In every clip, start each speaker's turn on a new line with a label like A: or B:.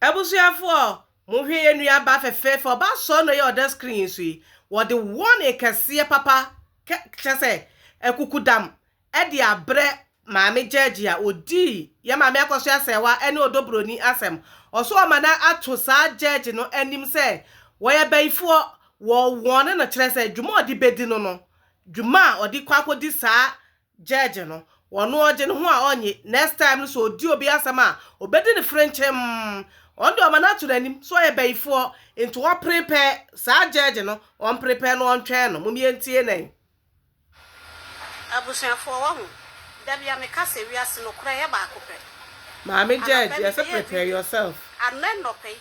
A: Abusuafoɔ monhwɛ yɛn nua ba fɛfɛɛfɛ ɔba sɔɔ na ɔyɛ ɔdɛ screen yi so yi wɔde warning kɛseɛ papa kɛ kyerɛ sɛ akukudam ɛde abrɛ maame gyɛɛgye a ɔdii yɛn maame akɔso asɛɛwa ɛne ɔdɔ broni asɛm ɔso ɔma no ato saa gyɛɛgye no anim sɛ wɔyɛ abayifoɔ wɔ warne no kyerɛ sɛ dwuma ɔde bɛdi no no dwuma a ɔde kɔ akɔdi saa Judge no ɔno ɔgye ne ho a ɔnnye next time no sɛ ɔdi obi asɛm a ɔbɛdi no frenkyemm ɔno deɛ ɔma no ato n'anim sɛ ɔyɛ bayifoɔ nti ɔprepare saa judge no ɔmprepare no ɔntwɛn no mom yɛntie na yi.
B: Abusuafoɔ wahu, dabia meka sɛ wiase
A: nokorɛ yɛ baako pɛ. Maame judge yɛse prepare yourself. Anɛ nɔpɛ yi.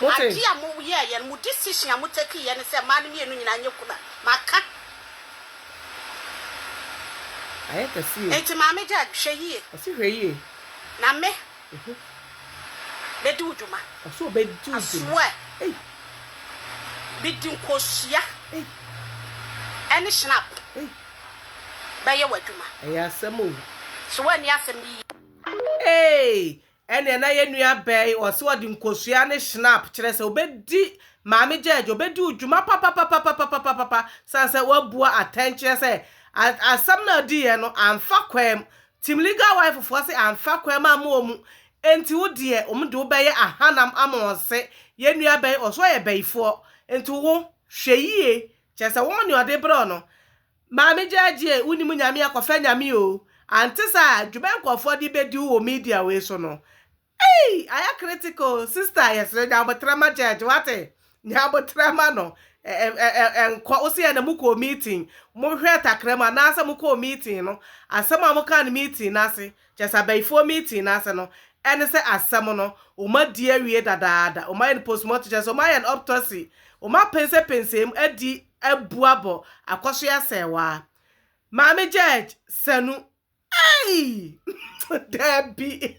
B: Ade a mo yɛɛ yɛ no, mo decision a mo take yɛ ne sɛ mmaa no mmienu nyinaa nyɛ kunu a, maka.
A: Ayɛ kɛse o. Enti maame Jade, hwɛ
B: yie. Ɔse hwɛ yie.
A: Na me,
B: bɛdi wo dwuma. Ɔse ɔbɛdi wo
A: dwuma. I swear.
B: Me di nkosua ɛne shinap bɛyɛ w'adwuma. Ɛyɛ asɛm o.
A: So woanni asɛm
B: no yie. Eeii Ɛnneɛ
A: na yɛn nua bɛɛ yi, ɔse ɔde nkosua ne Schnapp, kyerɛ sɛ ɔbɛdi Maame Gyɛɛgye, ɔbɛdi wo dwuma papapapapapapapapa, sane sɛ wabua atɛn kyerɛ sɛ asɛm no a ɔdiiɛ no amfa kwaam. Team Legal Wife foɔ se amfa kwaam amma wɔn, enti wo deɛ wɔn de wo bɛyɛ ahanam ama wɔn se yɛn nua bɛɛ yi ɔse ɔyɛ bayifoɔ, enti wo hwɛ yie, kyerɛ sɛ wɔn deɛ ɔde brɛ wo no, Maame Gyaagyee wonim nyame a kɔfɛ nyame oo ante saa dwuma nkurɔfoɔ de bɛdi wo wɔ media wei so no eii ayɛ critical sister yɛsrɛ nya aboterɛ ma Gyaagyee wate nya aboterɛ ma no nkɔ wo se yɛ na mo kɔɔ meeting mo hwɛɛ takra mu anaa sɛ mo kɔɔ meeting no asɛm a mo kaa no meeting no ase kyɛ sɛ abayifoɔ meeting no ase no ɛne sɛ asɛm no wɔn adi awie dadaada wɔn ayɛ no postmortem kyɛ sɛ wɔn ayɛ no optosy wɔn apɛnsɛpɛnsɛm adi abu abɔ akɔso asɛe waa. Maame George sanu eii daabi.